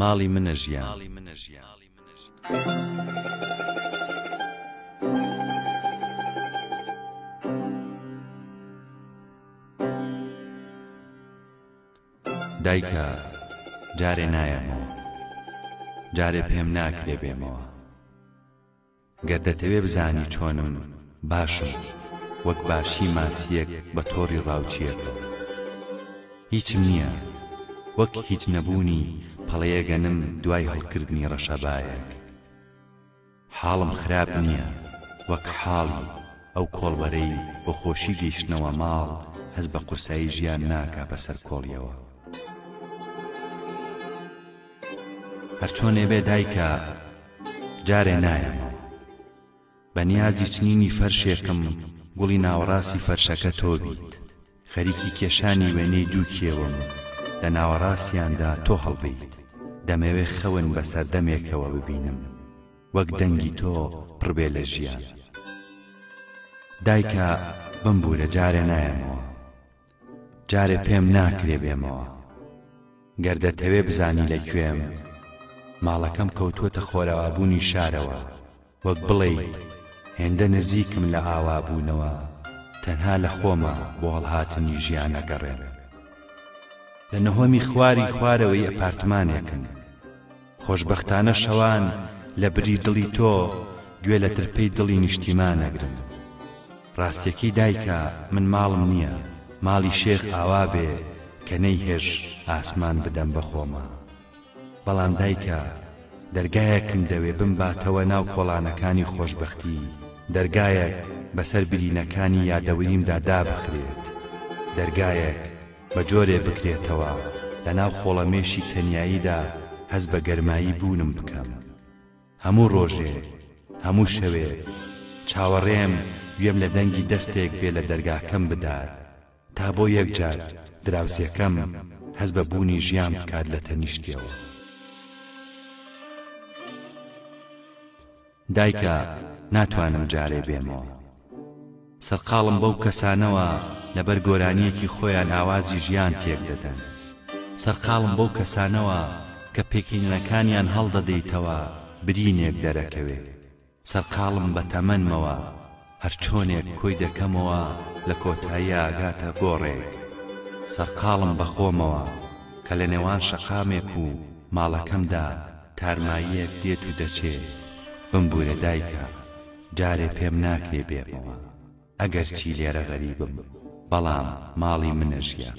ماڵی منە ژیان دایکە جارێ نایەمەوە جارێ پێم ناکرێ بێمەوە گەر دەتەوێ بزانی چۆنم باشم وەک باشی ماسییەک بە تۆڕی ڕاوچییەکە هیچم نییە وەک هیچ نەبوونی پەڵەیەگەنم دوای هەڵکردنی ڕەشەبایەک حاڵم خراپ نییە وەک حاڵی ئەو کۆڵبەرەی بۆ خۆشی گەیشتنەوە ماڵ هەست بە قورسایی ژیان ناکا بەسەر کۆڵیەوە. هەر چۆنێ بێ دایکە جارێ نایەمەوە بە نیازی چنینی فەرشێکم گوڵی ناوەڕاستی فەرشەکە تۆ بیت خەریکی کێشانی وێنەی دوو کێوم لە ناوەڕاستیاندا تۆ هەڵبیت دەمەوێ خەون بە سەردەمێکەوە ببینم وەک دەنگی تۆ پڕ بێ لە ژیان دایکە بمبوورە جارێ نایەمەوە جارێ پێم ناکرێ بێمەوە گەر دەتەوێ بزانی لە کوێم ماڵەکەم کەوتووەتە خۆرئاوابوونی شارەوە وەک بڵێیت هێندە نزیکم لە ئاوابوونەوە تەنها لە خۆما بۆ هەڵهاتنی ژیان ئەگەڕێم لە نهۆمی خواری خوارەوەی ئەپارتمانێکم خۆشبەختانە شەوان لە بری دڵی تۆ گوێ لە ترپەی دڵی نیشتیمان ئەگرن. ڕاستیەکەی دایکە من ماڵم نیە ماڵی شێخ ئاوا بێ کە نەی هێژ ئاسمان بدەم بە خۆما. بەڵام دایکە دەرگایەکم دەوێ بمباتەوە ناو کۆڵانەکانی خۆشبەختی دەرگایەک بەسەر برینەکانی یادەوریمدا دابخرێت دەرگایەک بە جۆرێ بکرێتەوە لە ناو خۆڵەمێشی تەنیاییدا هەست بە گەرمایی بوونم بکەم. هەموو ڕۆژێ، هەموو شەوێ، چاوەڕێم گوێم لە دەنگی دەستێک بێ لە دەرگاکەم بدات، تا بۆ یەک جار دراوسێکەم هەست بە بوونی ژیان بکات لە تەنیشتیەوە. دایکە ناتوانم جارێ بێمەوە. سەرقاڵم بەو کەسانەوە لەبەر گۆرانیەکی خۆیان ئاوازی ژیان تێک دەدەن سەرقاڵم بەو کەسانەوە کە پێکینەکانیان هەڵدەدەیتەوە برینێک دەرەکەوێ سەرقاڵم بە تەمەنمەوە هەرچۆنێک کۆی دەکەمەوە لە کۆتاییا ئەگاتە گۆڕێک. سەرقاڵم بە خۆمەوە کە لە نێوان شەقامێک و ماڵەکەمدا تارماییەک دێت و دەچێ. بمبوورە دایکە، جارێ پێم ناکرێ بێمەوە. ئەگەرچی لێرە غەریبم، بەڵام ماڵی منە ژیان.